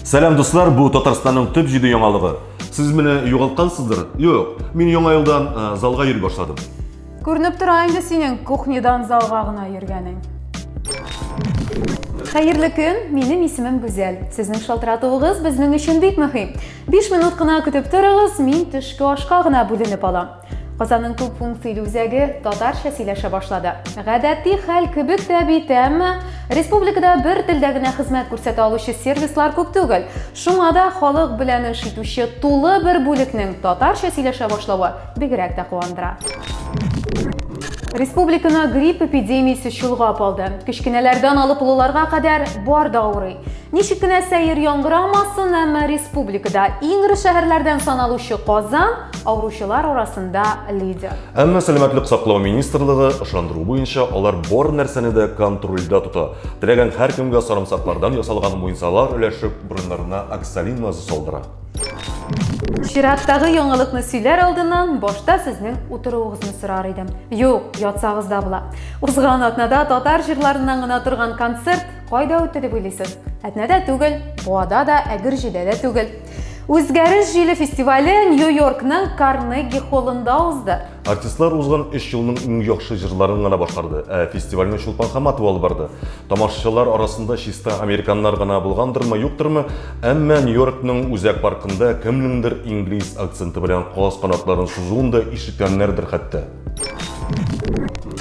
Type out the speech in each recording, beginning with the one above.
Сәлам дуслар, бу Татарстанның төп җиде яңалыгы. Сез менә югалткансыздыр? Юк, мин яңа елдан э, залга йөри башладым. Күренеп тора инде синең кухнядан залга гына йөргәнең. Хәерле көн, минем исемем Гүзәл. Сезнең шалтыратуыгыз безнең өчен бик мөһим. 5 минут кына көтеп торыгыз, мин төшке ашка гына бүленеп алам. Казанның күп функцияле үзәге татарча сөйләшә башлады. Гадәти хәл кебек тә бит, әмма республикада бер телдә генә хезмәт күрсәтә алучы сервислар күп түгел. Шуңа да халык белән эш итүче тулы бер бүлекнең татарча сөйләшә башлавы бигрәк тә куандыра. Республиканы грипп эпидемиясе чолгап алды. Кечкенәләрдән алып олыларга кадәр бар да авырый. Ничек кенә сәер яңгырамасын, әмма республикада иң эре шәһәрләрдән саналучы Казан авыручылар арасында лидер. Әмма сәламәтлек саклау министрлыгы ышандыру буенча алар бар нәрсәне дә контрольдә тота. Теләгән һәркемгә сарымсаклардан ясалган муенсалар өләшеп, борыннарына оксалин мазы салдыра. Чираттагы яңалыкны сөйләр алдыннан башта сезнең утыруыгызны сорар идем. Юк, ятсагыз да була. Узган атнада татар җырларыннан гына торган концерт кайда үтте дип уйлыйсыз? Әтнәдә түгел, Буада да, Әгерҗедә дә түгел. Үзгәреш җиле фестивале Нью-Йоркның Карнеги холлында узды. Артистлар узган өч елның иң яхшы җырларын гына башкарды, ә фестивальне Чулпан Хаматова алып барды. Тамашачылар арасында чиста американнар гына булгандырмы, юктырмы, әмма Нью-Йоркның Үзәк паркында кемнеңдер инглиз акценты белән каз канатларын сузуын да ишеткәннәрдер хәтта.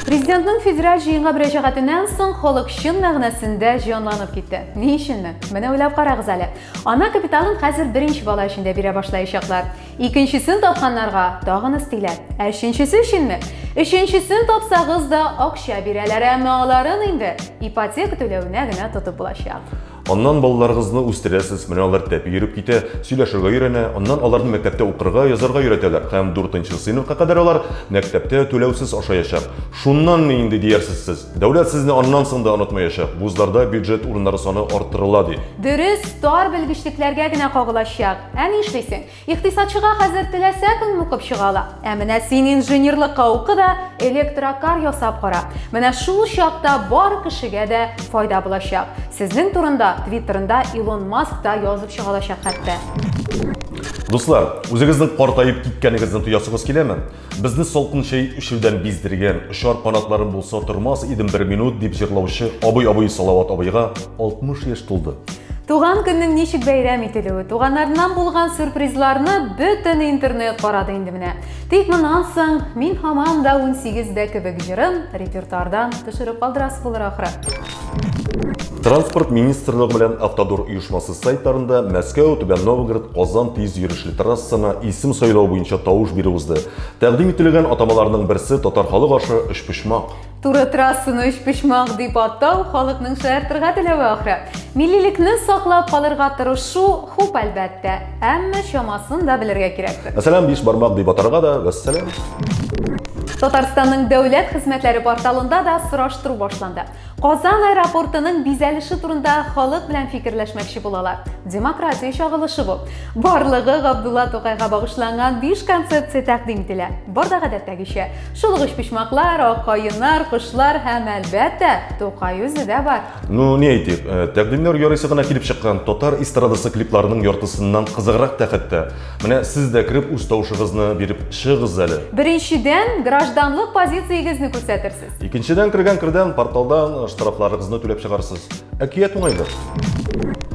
Президентның федераль җыенга мөрәҗәгатеннән соң халык чын мәгънәсендә җанланып китте. Ни өченме? Менә уйлап карагыз әле. Ана капиталын хәзер беренче бала өчен дә бирә башлаячаклар. Икенчесен тапканнарга тагын өстиләр. Ә өченчесе өченме? Өченчесен тапсагыз да акча бирәләр, әмма аларын инде ипотека түләвенә генә тотып булачак. Аннан балаларыгызны үстерәсез, менә алар тәпи йөреп китә, сөйләшергә өйрәнә, аннан аларны мәктәптә укырга, язарга өйрәтәләр һәм дүртенче сыйныфка кадәр алар мәктәптә түләүсез ашаячак. Шуннанмы инде диярсез сез? Дәүләт сезне аннан соң да онытмаячак. Вузларда бюджет урыннары саны арттырыла, ди. Дөрес, тар белгечлекләргә генә кагылачак. Ә ни эшлисең? Икътисадчыга хәзер теләсә кем укып чыга ала. Ә менә син инженерлыкка уку да, электрокар ясап кара. Менә шул чакта бар кешегә дә файда булачак. Сезнең турында Твиттерында Илон Маск та язып чыга алачак хәтта. Дуслар, үзегезнең картаеп киткәнегезне тоясыгыз киләме? Безне салкын чәй эчүдән биздергән, очар канатларым булса тормас идем бер минут, дип җырлаучы абый абый Салават абыйга 60 яшь тулды. Туган көннең ничек бәйрәм ителүе, туганнарыннан булган сюрпризларны бөтен интернет карады инде менә. Тик моннан соң мин һаман да 18 дә кебек җырын репертуардан төшереп калдырасы булыр ахры. Транспорт министрлыгы белән Автодор оешмасы сайтларында Мәскәү, Түбән Новгород, Казан тиз йөрешле трассына исем сайлау буенча тавыш бирү узды. Тәкъдим ителгән атамаларның берсе татар халык ашы өчпочмак. Туры трассаны өчпочмак дип атау халыкның шаяртырга теләве ахры. Миллилекне саклап калырга тырышу хуп әлбәттә. Әмма чамасын да белергә кирәктер. Мәсәлән, биш бармак дип атарга да, вәссәлам. Татарстанның дәүләт хезмәтләре порталында да сораштыру башланды. Казан аэропортының бизәлеше турында халык белән фикерләшмәкче булалар. Демократия чагылышы бу. Барлыгы Габдулла Тукайга багышланган 5 концепция тәкъдим ителә. Бар да гадәттәгечә. Шулыгыч почмаклар, ак каеннар, кошлар һәм әлбәттә, Тукай үзе дә бар. Ну, не әйтик, э, тәкъдимнәр ярыйсы гына килеп чыккан. Татар эстрадасы клипларының яртысыннан кызыграк та хәтта. Менә сез дә кереп үз тавышыгызны биреп чыгыгыз әле. Беренчедән, гражданлык позициягезне күрсәтерсез. Икенчедән кергән кердән порталдан э, штрафларыгызны түләп чыгарсыз. Әкият уңайлы.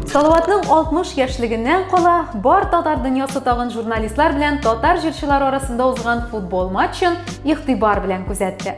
Салаватның 60 яшьлегеннән кала, бар татар дөньясы тагын журналистлар белән татар җырчылары арасында узган футбол матчын игътибар белән күзәтте.